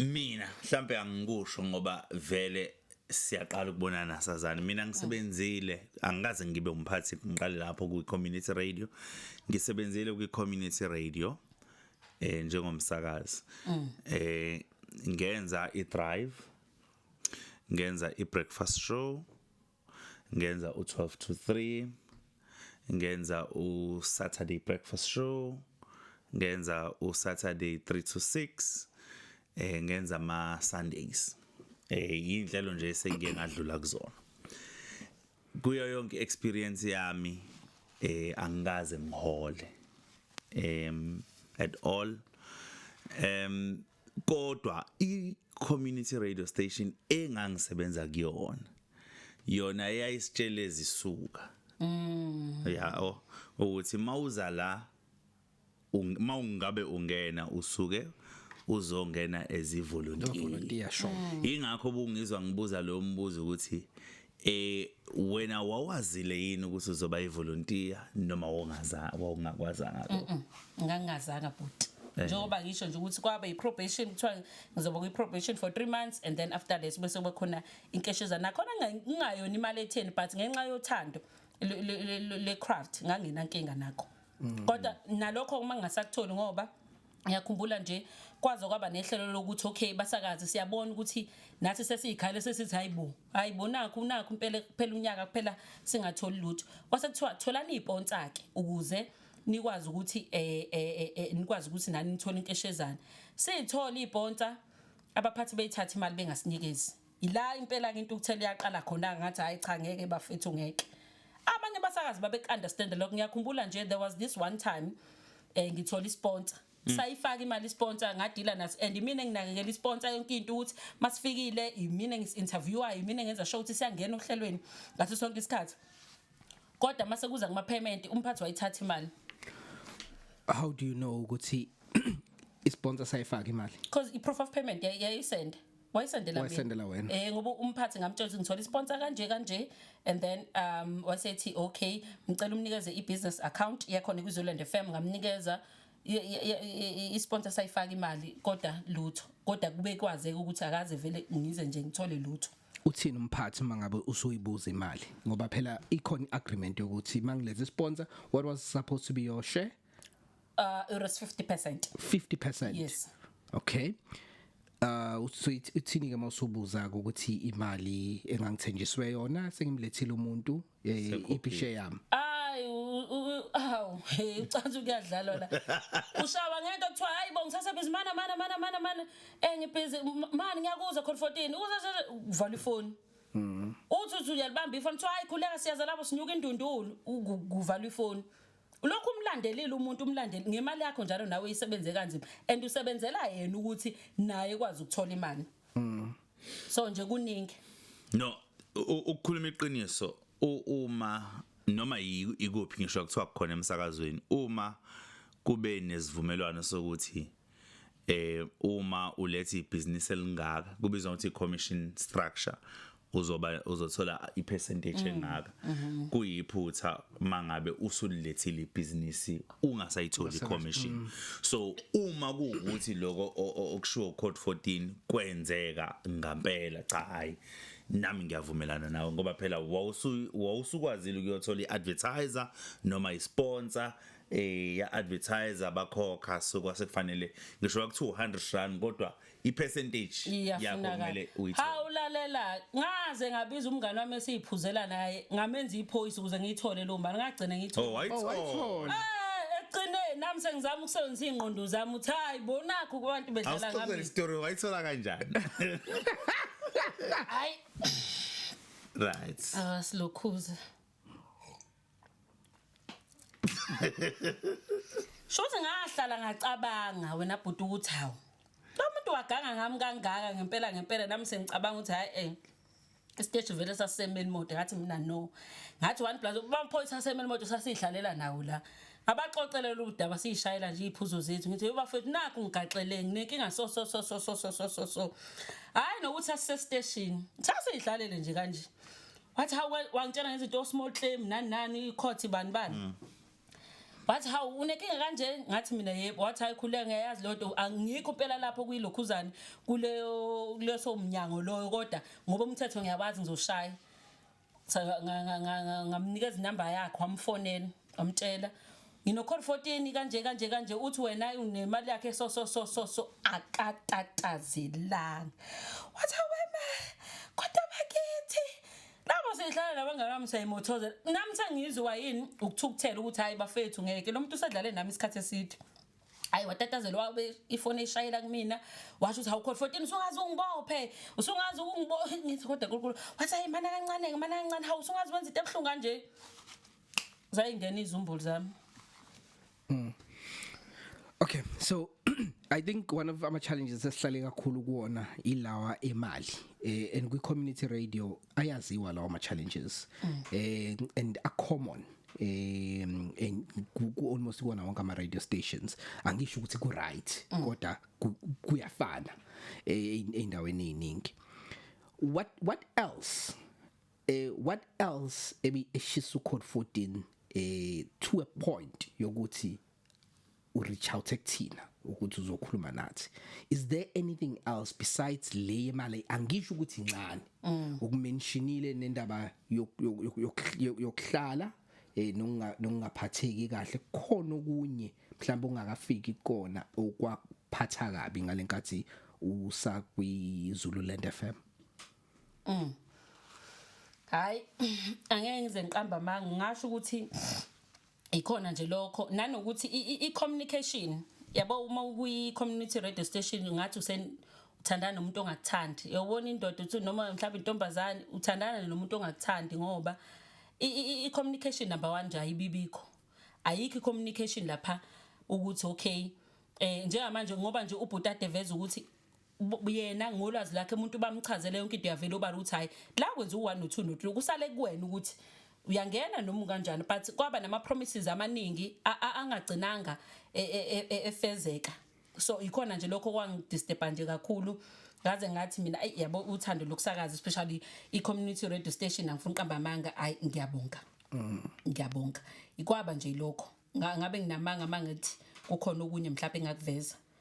mina mhlambe angikusho ngoba vele siyaqala ukubonana sazana mina ngisebenzile angikaze ngibe umphathi ngiqale lapho kwi community radio ngisebenzile kwi community radio eh njengomsakazi mm. eh ngenza i drive ngenza i breakfast show ngenza u-12 to 3 ngenza u-saturday breakfast show ngenza u-saturday 3 to 6 eh ngenza ama-sundays eh yinhlelo nje sengiye ngadlula kuzona kuyo yonke experience yami eh angikaze ngihole em at all em kodwa i community radio station engangisebenza kuyona yona eyayisitshela ezisuka mm ya oh ukuthi mawuza la uma ungabe ungena usuke uzongena ezivolunteer volunteer sure mm. ingakho bungizwa ngibuza lo mbuzo ukuthi eh wena wawazile yini ukuthi uzoba ivolunteer noma wongaza wawungakwazanga lokho ngangazanga bhuti eh. njengoba ngisho nje ukuthi kwaba i-probation kuthiwa ngizoba kwi-probation for three months and then after that bese kuba khona inkesheza nakhona ngingayona imali etheni but ngenxa yothando le-craft nganginankinga nakho mm. kodwa nalokho uma ngingasakutholi ngoba ngiyakhumbula nje kwaze kwaba nehlelo lokuthi okay basakaze siyabona ukuthi nathi sesiyikhale sesithi hayibo hayibo nakho nakho impela kuphela unyaka kuphela singatholi lutho kwase kuthiwa tholani ipontsake ukuze nikwazi ukuthi eh, eh, eh, eh nikwazi ukuthi nani nithola inkeshezana sithola iponsa abaphathi beyithatha imali bengasinikezi Yila impela ke intukuthelo yaqala khona ngathi hayi cha ngeke bafethu ngeke. Abanye basakazi babe understand lokho ngiyakhumbula nje there was this one time eh ngithola isponsor Mm. sayifaka imali sponsor ngadila naso and mina nginakekela isponsor yonke into ukuthi masifikile imina ngis interviewer imina ngenza show ukuthi siyangena ohlelweni ngaso sonke isikhathi kodwa mase kuza kuma payment umphathi wayithatha imali how do you know ukuthi isponsor sayifaka imali because i proof of payment yayisend yeah, yeah, wayesendela wayesendela wena eh ngoba umphathi ngamtshela ukuthi ngithola isponsor kanje kanje and then um wasethi okay ngicela umnikeze ibusiness account yakhona kwiZoland FM ngamnikeza isponsor sayifaka imali kodwa lutho kodwa kube kwazeka ukuthi akaze vele ngize nje ngithole lutho uthini umphathi mangabe usuyibuza imali ngoba phela ikhona iagreement yokuthi mangilethe sponsor what was supposed to be your share Uh, it was 50%. 50%. Yes. Okay. Uh uthini ke mawusubuza ukuthi imali engangithenjiswe yona sengimlethile umuntu eh, ipishe yami. Ay aw hey ucanza ukuyadlala la. Ushawa ngento kuthiwa hayi bo ngisase busy mana mana mana mana mana engibhizi eh, mani ngiyakuza khona 14 uza vala ifoni. Mhm. Uthi uthi uyalibamba ifoni kuthiwa hayi khuleka siyaza lapho sinyuka indundulu kuvala ifoni. ulokhu umlandelile umuntu umlandeli ngemali yakho njalo nawe isebenze kanzima and usebenzela yena ukuthi naye kwazi ukuthola imali mm. so nje kuningi no ukukhuluma iqiniso uma noma ikuphi ngisho kuthiwa kukhona emsakazweni uma kube nesivumelwano sokuthi eh uma uletha ibusiness elingaka kubizwa ukuthi commission structure uzoba uzothola ipercentage mm. engaka mm-hmm. kuyiphutha mangabe usulilethile ibusiness ungasayitholi commission mm. so uma kuwukuthi lokho okushiwo code 14 kwenzeka ngampela cha hayi nami ngiyavumelana nawe ngoba phela wawusukwazile ukuyothola iadvertiser noma isponsor eh ya advertiser bakhokha so kwase kufanele ngisho kwakuthi 100 rand kodwa i percentage yakho kumele uyithathe ha ulalela ngaze ngabiza umngane wami esiyiphuzela naye ngamenza iphoyisa ukuze ngiyithole lo mali ngagcina ngiyithola oh wayithola oh, eh, eqineni nami sengizama ukusebenzisa ingqondo zami uthi hayi bonakho kubantu bedlala ngami awuxoxe story wayithola kanjani hayi right asilokhuza ah, Shothi ngahlala ngacabanga wena bhuti ukuthi hawu. Lo muntu waganga ngami kangaka ngempela ngempela nami sengicabanga ukuthi hayi eh isiteshi vele sasemeni mode ngathi mina no ngathi one plus bamphoyisa sasemeni mode sasidlalela nawo la abaxoxelela udaba siyishayela nje iphuzo zethu ngithi bafethu nakho ngigaxele nginenkinga so so so so so so so so hayi nokuthi asise station sasidlalele nje kanje wathi hawu we- wangitshela ngezinto small claim nani nani icourt bani bani Mm. wathi hawu unenkinga kanje ngathi mina yebo wathi hayi khuleka ngiyayazi leyo nto angikho impela lapho kuyilokhuzane kuleyo kuleso mnyango loyo kodwa ngoba umthetho ngiyawazi ngizoshaya Sa- nga- nga- nga- nga- ngamnikeza inamba yakhe wamfonela amtshela nginokhol 14 kanje kanje kanje uthi wena unemali yakhe so so so so so akatatazelanga wathi wema kodwa bakithi labo sehlala nabangakami sayimothozela nami sengizwa yini ukuthukuthela ukuthi hayi bafethu ngeke lo muntu usedlale nami isikhathi eside hayi watatazela wabe ifoni eshayela kumina washo ukuthi awukhona 14 usungazi ungibophe usungazi ungibophe ngithi kodwa nkulunkulu wathi hayi mana kancane mana kancane hawu usungazi wenza into ebuhlungu kanje zayingena izumbulu zami mm. okay so i think one of ama challenges esihlale kakhulu kuona ilawa emali eh, and kwi community radio ayaziwa lawa ama challenges mm. eh, and a common eh ku almost kuona wonke ama radio stations angisho ukuthi ku right mm. kodwa kuyafana eh, eindaweni eziningi what what else eh what else ebi eshisa ucode 14 eh to a point yokuthi u reach out ekuthina ukuthi uzokhuluma nathi is there anything else besides le yemali angisho ukuthi incane mm. ukumentionile nendaba yokuhlala eh nokungaphatheki kahle khona okunye mhlawumbe ungakafiki kona okwaphatha kabi ngalenkathi usakwi Zululand FM Mm. Hayi angeke ngize ngiqamba amanga ngasho ukuthi ikhona nje lokho nanokuthi i communication yabo uma ukuyi community radio station ngathi usen uthandana nomuntu ongakuthandi uyobona indoda uthi noma mhlawumbe intombazane uthandana nomuntu ongakuthandi ngoba i communication number 1 nje ayibibikho ayikho i communication lapha ukuthi okay eh njengamanje ngoba nje ubhuti adeveza ukuthi yena ngolwazi lakhe umuntu bamchazele yonke into yavela obala ukuthi hayi la kwenza u-1 no-2 no-3 kusale kuwena ukuthi uyangena noma kanjani but kwaba nama promises amaningi angagcinanga e, e, e, efezeka so ikhona nje lokho kwangidisturba nje kakhulu ngaze ngathi mina ayi yabo uthando lokusakaza especially i community radio station angifuni qamba amanga ayi ngiyabonga mm. ngiyabonga ikwaba nje lokho ngabe nginamanga mangithi kukhona okunye mhlawumbe engakuveza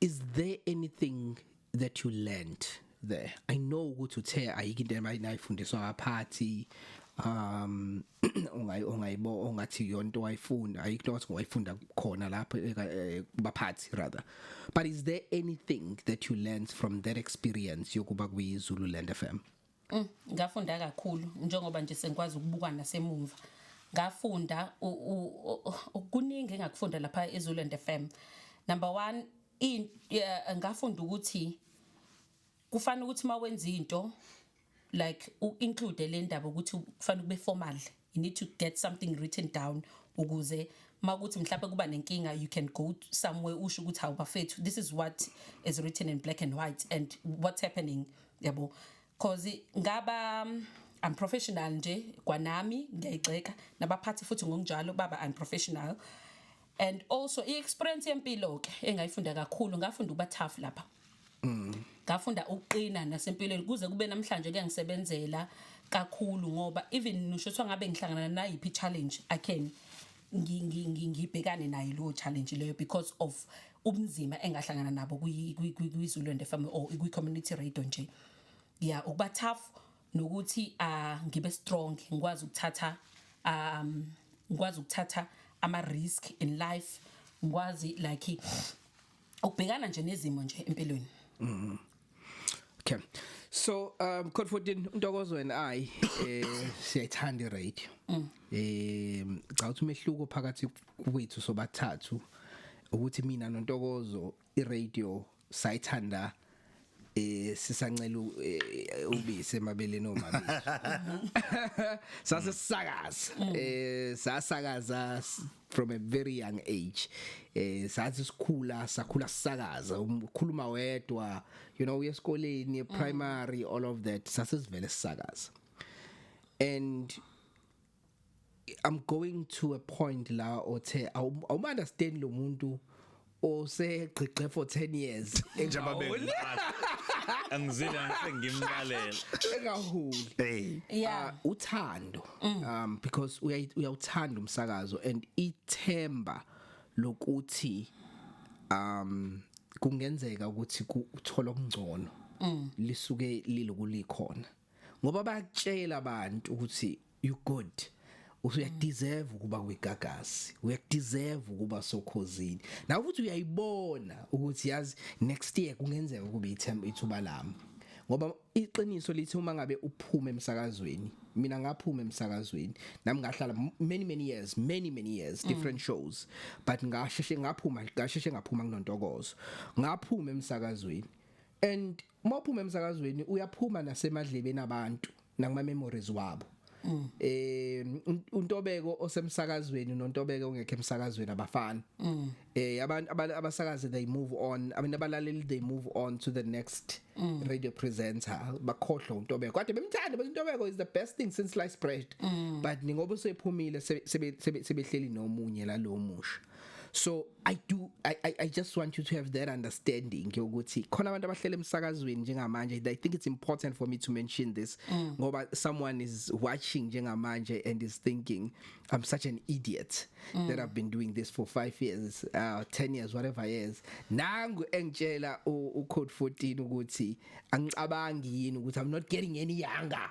is there anything that you learned there i know ukuthi uthe ayike into abayifundiswa ngaphathi um ongayi ongayibo ongathi yonto wayifunda ayikho ukuthi wayifunda khona lapho eh, eh, baphathi rather but is there anything that you learned from that experience yokuba kwi Zululand FM Mm, ngafunda kakhulu njengoba nje sengikwazi ukubuka nasemumva ngafunda kuningi engakufunda lapha eZululand FM number 1 in ngafunda ukuthi kufanele ukuthi mawenza into like u include le ndaba ukuthi kufanele kube formal you need to get something written down ukuze makuthi mhlawumbe kuba nenkinga you can go somewhere usho ukuthi hawu bafethu this is what is written in black and white and what's happening yabo cause ngaba I'm professional nje kwanami ngiyayigxeka nabaphathi futhi ngokunjalo baba I'm professional and also i-experience yempilo-ke engayifunda kakhulu ngafunda ukuba tough lapha mm. ngafunda ukuqina nasempilweni kuze kube namhlanje kuyangisebenzela kakhulu ngoba even ngisho kuthiwa ngabe ngihlangana nayiphi challenge i can ngibhekane nayo leyo challenge leyo because of ubunzima engahlangana nabo kwi-zululand fm or kwi-community radio nje ya ukuba tough nokuthi uh, ngibe strong ngikwazi ukuthatha um ngikwazi ukuthatha ama risk in life ngikwazi like ukubhekana nje nezimo nje empilweni mhm okay so um code 14 untokozo and i eh siyayithanda iradio mm. eh cha uthi umehluko phakathi kwethu sobathathu ukuthi mina nontokozo iradio sayithanda eh sisancela eh, ubisi emabeleni omama sase sisakaza eh sasakaza s- from a very young age eh sathi sikhula sakhula sisakaza um- ukhuluma wedwa you know uyesikoleni primary all of that sase sivele sisakaza and I'm going to a point la othe awuma understand lo muntu osegqigqe for 10 years njengoba bengimlalela angizile ngimlalela engahuli hey yeah uh, uthando mm. um because uyawuthanda umsakazo and ithemba lokuthi um kungenzeka ukuthi uthola okungcono mm. lisuke lilokulikhona ngoba bayakutshela abantu ukuthi you good usuyadeserve ukuba kwigagasi uyadeserve ukuba sokhozini nawe futhi uyayibona ukuthi yazi next year kungenzeka ukuba ithemba ithuba lami ngoba iqiniso lithi uma ngabe uphuma emsakazweni mina ngaphuma emsakazweni nami ngahlala many many years many many years mm. different shows but ngasheshe ngaphuma ngasheshe ngaphuma kunontokozo ngaphuma emsakazweni and uma uphuma emsakazweni uyaphuma nasemadlebeni abantu nakuma memories wabo mm. eh untobeko osemsakazweni nontobeko ongekho emsakazweni abafani mm. eh abantu abasakazi they move on abantu abalaleli they move on to the next mm. radio presenter bakhohlwa untobeko kade bemthanda but untobeko is the best thing since sliced bread mm. but ningoba usephumile sebehleli nomunye la lo musha so i do I, I i just want you to have that understanding ukuthi khona abantu abahlele emsakazweni njengamanje i think it's important for me to mention this mm. ngoba mm. someone is watching njengamanje and is thinking i'm such an idiot mm. that i've been doing this for 5 years uh 10 years whatever years nangu engitshela u code 14 ukuthi angicabangi yini ukuthi i'm not getting any younger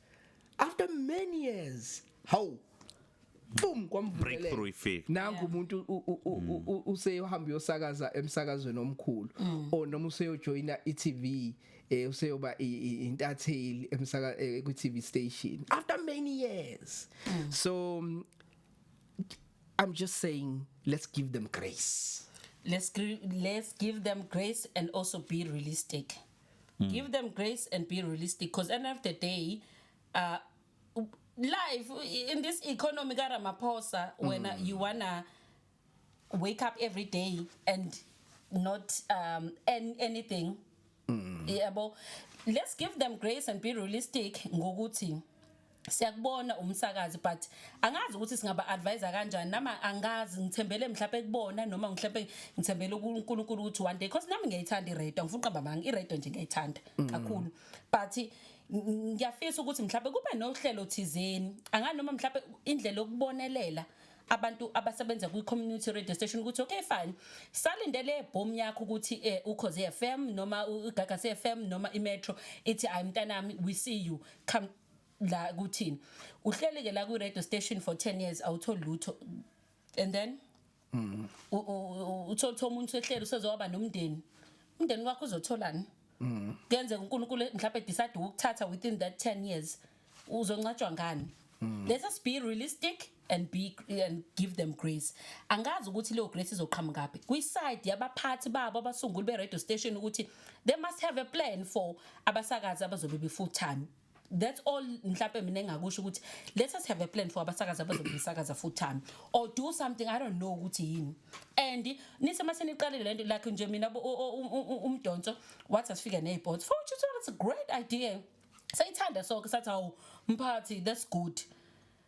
after many years how boom breakthrough ifika nangu umuntu useyohamba uyosakaza emsakazweni omkhulu mm. or noma useyojoina iTV eh useyoba intatheli emsaka eh, ku TV station after many years mm. so um, i'm just saying let's give them grace let's let's give them grace and also be realistic mm. give them grace and be realistic because end of the day uh, life in this economy ka Ramaphosa mm. when you wanna wake up every day and not um and anything mm. yebo let's give them grace and be realistic ngokuthi siyakubona umsakazi but angazi ukuthi singaba advisor kanjani nama angazi ngithembele mhlawumbe kubona noma mhlawumbe ngithembele uNkulunkulu ukuthi one day because nami ngiyayithanda iRadio ngifuna uqamba manga iRadio nje ngiyayithanda mm. kakhulu but ngiyafisa ukuthi mhlawumbe kube nohlelo thizeni angani noma mhlawumbe indlela yokubonelela abantu abasebenza kwi community radio station ukuthi okay fine salindele boom yakho ukuthi eh, ukhoze FM noma ugaga FM noma imetro ithi ay mntanami we see you come la kuthini uhleli ke la ku radio station for 10 years awutholi lutho and then mhm uthotha umuntu ehleli usezoba nomndeni umndeni wakho uzotholani mhm kuyenzeka uNkulunkulu mhlawumbe decide ukuthatha within that 10 years uzoncatshwa ngani mhm. let's us be realistic and be and give them grace angazi ukuthi leyo grace izoqhamukaphi kwi-side yabaphathi babo abasunguli be-radio station ukuthi they must have a plan for abasakazi abazobe be-full time that's all mhlawumbe mina engakusho ukuthi let us have a plan for abasakazi abazobe besakaza full time or do something i don't know ukuthi yini and nise uma seniqalile lento like nje mina umdonso wathi asifike ney'bots for which it's a great idea sayithanda soke sathi hawu mphathi that's good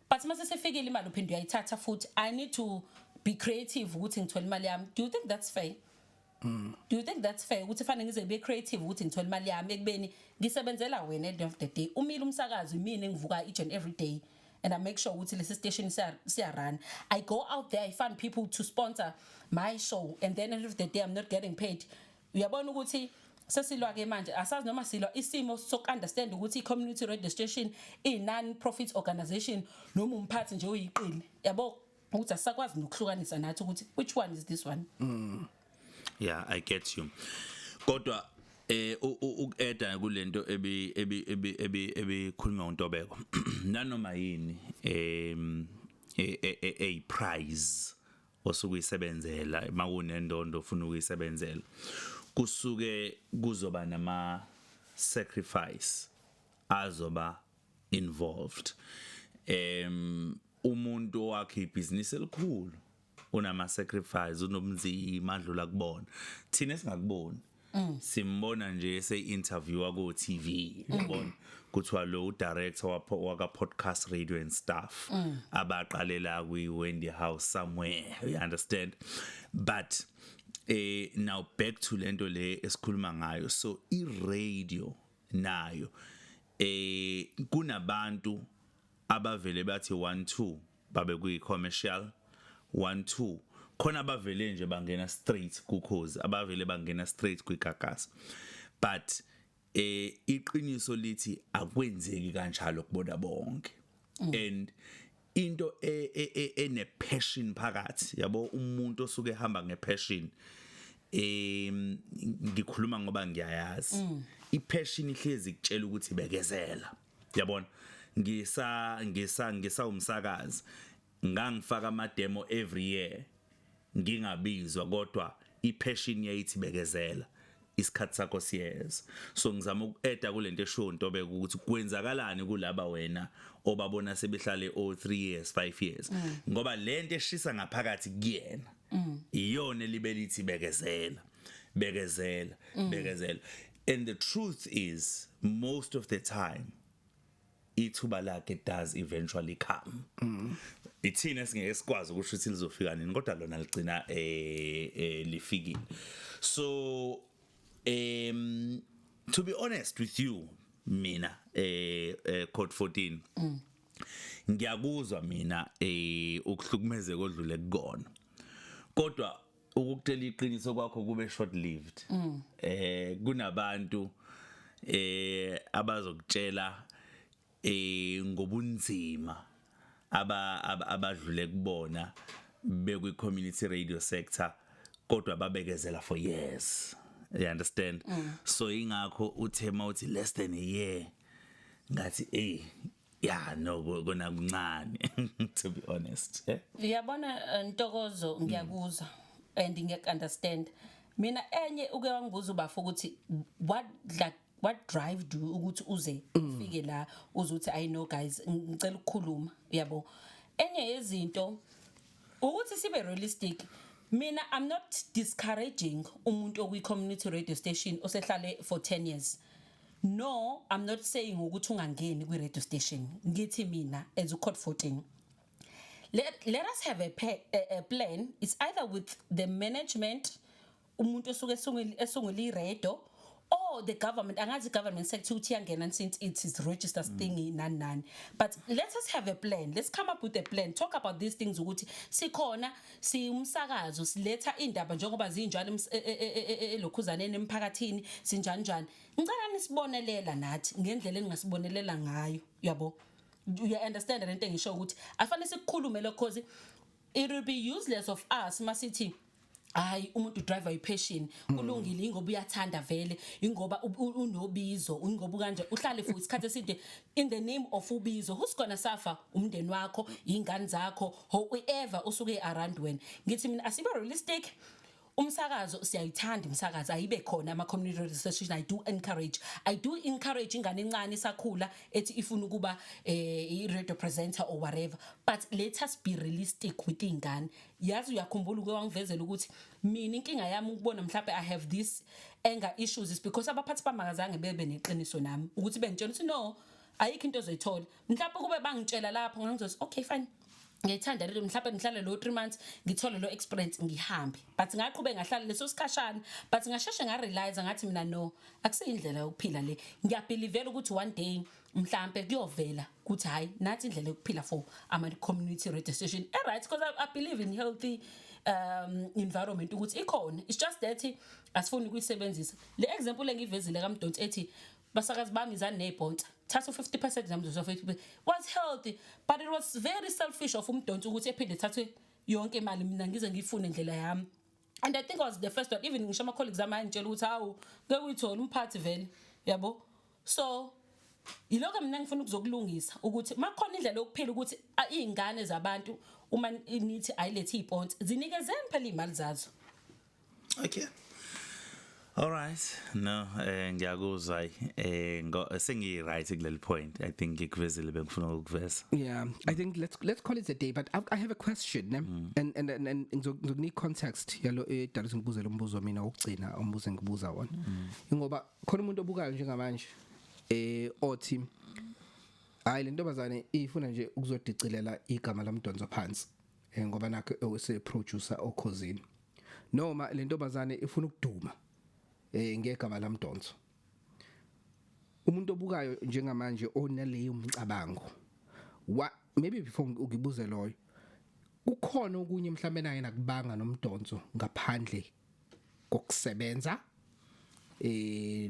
but mase sefikile imali uphinde uyayithatha futhi i need to be creative ukuthi ngithole imali yami do you think that's fair Mm. Do you think that's fair ukuthi fanele ngize be creative ukuthi ngithole imali yami ekubeni ngisebenzela wena at the end of the day umile umsakazi mina engivuka each and every day and I make sure ukuthi lesi station siya run I go out there I find people to sponsor my show and then at the end of the day I'm not getting paid uyabona ukuthi sesilwa ke manje asazi noma silwa isimo sok understand ukuthi i-community radio station i-non profit organization noma umphathi nje oyiqili yabo ukuthi asakwazi nokuhlukanisa nathi ukuthi which one is this one mm. yeah i get you kodwa eh ukueda kulento ebi ebi ebi ebi ebikhulunywa uNtobeko nanoma yini em e, e, e, a prize osuke uyisebenzela makunendondo ufuna ukuyisebenzela kusuke kuzoba nama sacrifice azoba involved em umuntu owakhe ibhizinisi elikhulu unama sacrifice unobunzima adlula kubona thina singakuboni Mm. simbona nje ese-interviewa ko-tv mm. yabona kuthiwa lo udirector waka-podcast radio and stuff mm. abaqalela kwi-wendy house somewhere you understand but eh now back to lento le esikhuluma ngayo so i-radio nayo eh kunabantu abavele bathi 1 2 babe kuyi commercial 1 2 khona abavele nje bangena straight kukhozi abavele bangena straight kwigagasi but eh iqiniso lithi akwenzeki kanjalo kubona bonke mm. and into e, e, e, ene passion phakathi yabo umuntu osuke ehamba nge passion em ngikhuluma ngoba ngiyayazi mm. i passion ihlezi kutshela ukuthi bekezela mm. yabona ngisa ngisa ngisa umsakazi ngangifaka ama demo every year ngingabizwa kodwa ipassion yayithi bekezela isikhathi sakho siyeza so ngizama ukueda kulento esho into beke ukuthi kwenzakalani kulaba wena obabona sebehlale o 3 years 5 years mm. ngoba lento eshisa ngaphakathi kuyena mm. iyona libelithi bekezela bekezela mm. bekezela and the truth is most of the time ithuba lakhe does eventually come mm. ithina singeke sikwazi ukusho ukuthi lizofika nini kodwa lona ligcina eh, eh lifikile so um to be honest with you mina eh, eh code 14 mm. ngiyakuzwa mina eh ukuhlukumezeka odlule kukona kodwa ukutshela iqiniso kwakho kube short lived mm. eh kunabantu eh abazokutshela eh ngobunzima aba abadlule kubona bekwi community radio sector kodwa babekezela for years you understand mm. so ingakho uthe mawuthi less than a year ngathi eh yeah no kona kuncane to be honest eh? yabona eh, ntokozo ngiyakuzwa and ngeke understand mina enye uke wangibuza ubafo ukuthi what like what drive do ukuthi uze mm. ufike la uzothi i know guys ngicela ukukhuluma yabo enye yezinto ukuthi sibe realistic mina i'm not discouraging umuntu okwi community radio station osehlale for 10 years no i'm not saying ukuthi ungangeni kwi radio station ngithi mina as u code 14 let, let us have a, pay, a, a plan it's either with the management umuntu osuke esungula iredo or the government angazi government sector ukuthi yangena since it is registered mm. thingy nani nani but let us have a plan let's come up with a plan talk about these things ukuthi sikhona siumsakazo siletha indaba njengoba zinjalo elokhuzaneni emphakathini sinjani njani ngicela nisibonelela nathi ngendlela eningasibonelela ngayo yabo you understand lento engisho ukuthi afanele sikukhulume lokho cause it will be useless of us masithi hayi umuntu driver ipassion mm. kulungile ingoba uyathanda vele ingoba unobizo ingoba kanje uhlale for isikhathi eside in the name of ubizo who's gonna suffer umndeni wakho ingane zakho whoever usuke around wena ngithi mina asibe realistic umsakazo siyayithanda umsakazo ayibe khona ama community radio station i do encourage i do encourage ingane encane sakhula ethi ifuna ukuba eh, i radio presenter or whatever but let us be realistic with ingane yazi uyakhumbula uke wangivezela ukuthi mina inkinga yami ukubona mhlawumbe i have this anger issues is because abaphathi bamakazange bebe neqiniso nami ukuthi bengitshela ukuthi no ayikho into ozoyithola mhlawumbe kube bangitshela lapho ngangizothi okay fine ngiyithanda lento mhlawumbe ngihlale lo 3 months ngithole lo experience ngihambe but ngaqhube ngahlala leso sikhashana but ngasheshe nga realize ngathi mina no akusiyindlela yokuphila le ngiyabelievela ukuthi one day mhlambe kuyovela ukuthi hayi nathi indlela yokuphila for ama community radio station eh right because I, I believe in healthy um environment ukuthi ikhona it's just that asifuni ukuyisebenzisa le example engivezile kaMdonsi ethi basakazi bami izani ney'bhonsa thatha u-50 percent zamzuzo fethu was healthy but it was very selfish of umdonsi ukuthi ephinde ethathwe yonke imali mina ngize ngiyifune ndlela yami and i think I was the first one even ngisho ama-colleagues ami ayangitshela ukuthi hawu ke uyithole umphathi vele yabo so yilokho mina ngifuna ukuzokulungisa ukuthi makhona indlela yokuphila ukuthi iy'ngane zabantu uma nithi ayilethe iy'ponsi zinikezeni phela iy'mali zazo okay All right. No, eh ngiyakuzwa hayi eh sengi right kuleli point. I think ngikuvezile bengifuna ukuveza. Yeah, I think let's let's call it a day but I, I have a question ne? Mm. and and and, and ngizokunika context yalo edala eh, ngibuzela umbuzo mina wokugcina umbuzo engibuza wona. Mm. Ngoba khona umuntu obukayo njengamanje eh othi hayi lentombazane ifuna nje ukuzodicilela igama lomdonso phansi. eh, ngoba nakho ewuse producer okhozini noma le ntombazane ifuna ukuduma eh ngegama lamdonso umuntu obukayo njengamanje onaleyo mcabango wa maybe before ukibuze loyo kukhona okunye mhlawumbe naye nakubanga nomdonso ngaphandle kokusebenza eh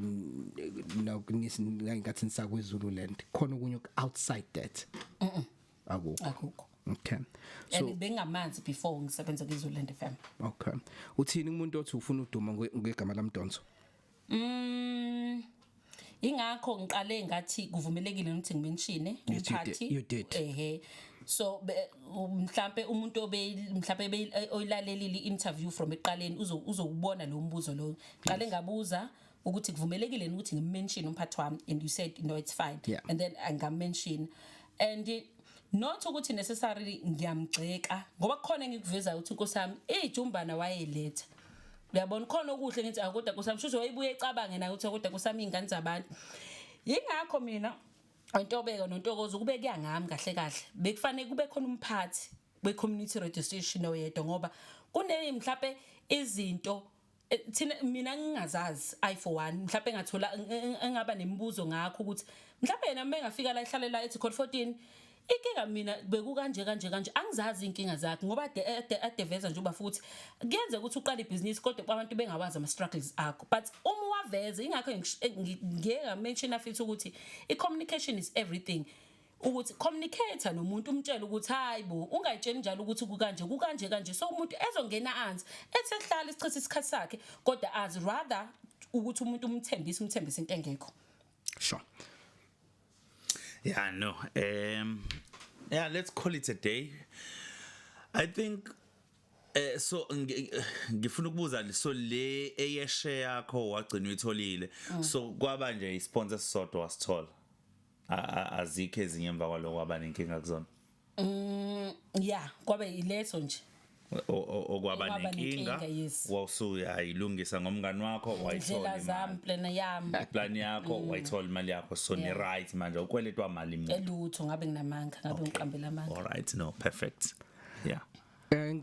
nokunisi ngathi nisakwezulu land khona okunye outside that akukho akukho okay so and bengamanzi before ngisebenza kwiZululand FM okay uthini umuntu othi ufuna uduma ngegama lamdonso mm ingakho ngiqale ngathi kuvumelekile ukuthi ngimenshine umphathi ehe so mhlambe umuntu obe mhlambe eh, oyilalelile interview from eqaleni uzokubona lo mbuzo lo qale ngabuza ukuthi kuvumelekile yini ukuthi ngimention umphathi wami and you said no it's fine yeah. and then angamention and it, not ukuthi necessarily ngiyamgxeka ngoba kukhona engikuvezayo ukuthi inkosi yami ijumbana wayeletha uyabona khona okuhle ngithi akoda ah, kusami shuthi wayibuye ecabange nayo ukuthi akoda ah, kusami ingane zabantu yingakho mina intobeko nontokozo kube kuya ngami kahle kahle bekufanele kube khona umphathi we community registration oyedwa ngoba kuneni mhlape izinto Eh, thina mina ngingazazi i for one mhlawumbe engathola engaba nemibuzo ngakho ukuthi mhlawumbe yena uma engafika la ehlale la ethi code 14 inkinga mina beku kanje kanje kanje angizazi inkinga zakhe ngoba ade ade adeveza nje uba futhi kuyenze ukuthi uqale ibhizinisi kodwa abantu bengawazi ama struggles akho but uma waveza ingakho ngiyeka mention afithi ukuthi i communication is everything ukuthi communicator nomuntu umtshela ukuthi hayi bo ungayitsheli njalo ukuthi kukanje kukanje kanje so umuntu ezongena anzi ethi ehlala isichitha isikhathi sakhe kodwa as rather ukuthi umuntu umthembise umthembise into engekho sure yeah no um yeah let's call it a day i think Eh so ngifuna ukubuza so le eyeshe yakho wagcina uyitholile mm. so kwaba nje isponsor sisodwa wasithola azikho ezinye emva kwaloko waba nenkinga kuzona mm yeah kwabe ileso nje okwaba nenkinga wawusuyayilungisa ngomngani wakho wayithola zami plan yami plan yakho mm. wayithola imali yakho so ni right manje ukweletwa mali manje elutho ngabe nginamanga ngabe ngiqambela amanga all right no perfect yeah eh,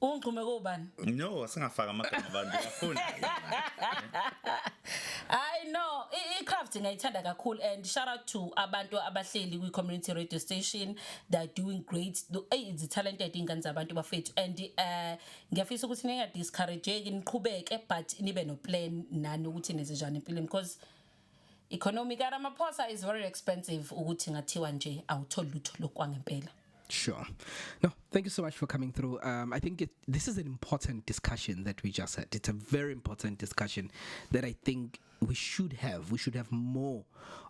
Ungigxume kobani? No, singafaka amagama abantu bafuna. I know i-craft ngiyayithanda kakhulu and shout out to abantu abahleli kwi-community radio station they're doing great eyi zi-talented iy'ngane zabantu bafethu and um ngiyafisa ukuthi ninga-discourageki niqhubeke but nibe no-plan nani ukuthi nenze njani empilweni because Economy ka Ramaphosa is very expensive ukuthi ngathiwa nje awutholi lutho lokwangempela. Sure. No, thank you so much for coming through. Um, I think it, this is an important discussion that we just had. It's a very important discussion that I think we should have. We should have more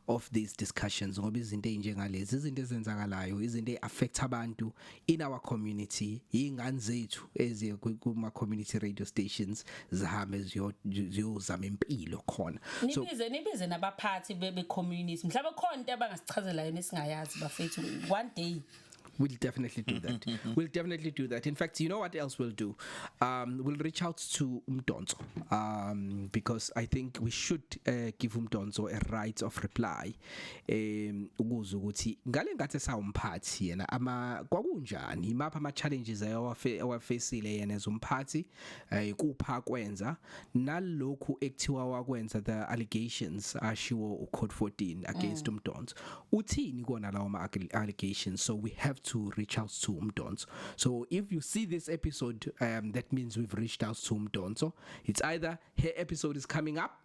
of these discussions ngoba izinto ezinjengalezi izinto ezenzakalayo izinto eaffect abantu in our community ingane zethu eziye kuma community radio stations zihambe ziyozama impilo khona so nibize nibize nabaphathi bebe community mhlawumbe khona into abangasichazela yona singayazi bafethu one day We'll definitely do that. we'll definitely do that. In fact, you know what else we'll do? Um, we'll reach out to Umdonzo um, because I think we should uh, give Umdonzo a right of reply em ukuza ukuthi ngale ngathi esawumphathi yena ama kwakunjani imapha ama challenges ayewafe awafacile yena ezomphathi eh kupha kwenza nalokhu ekuthiwa wakwenza the allegations ashiwo ucode 14 against umdonso uthini kona lawo ma allegations so we have to reach out to umdonso so if you see this episode um that means we've reached out to umdonso it's either her episode is coming up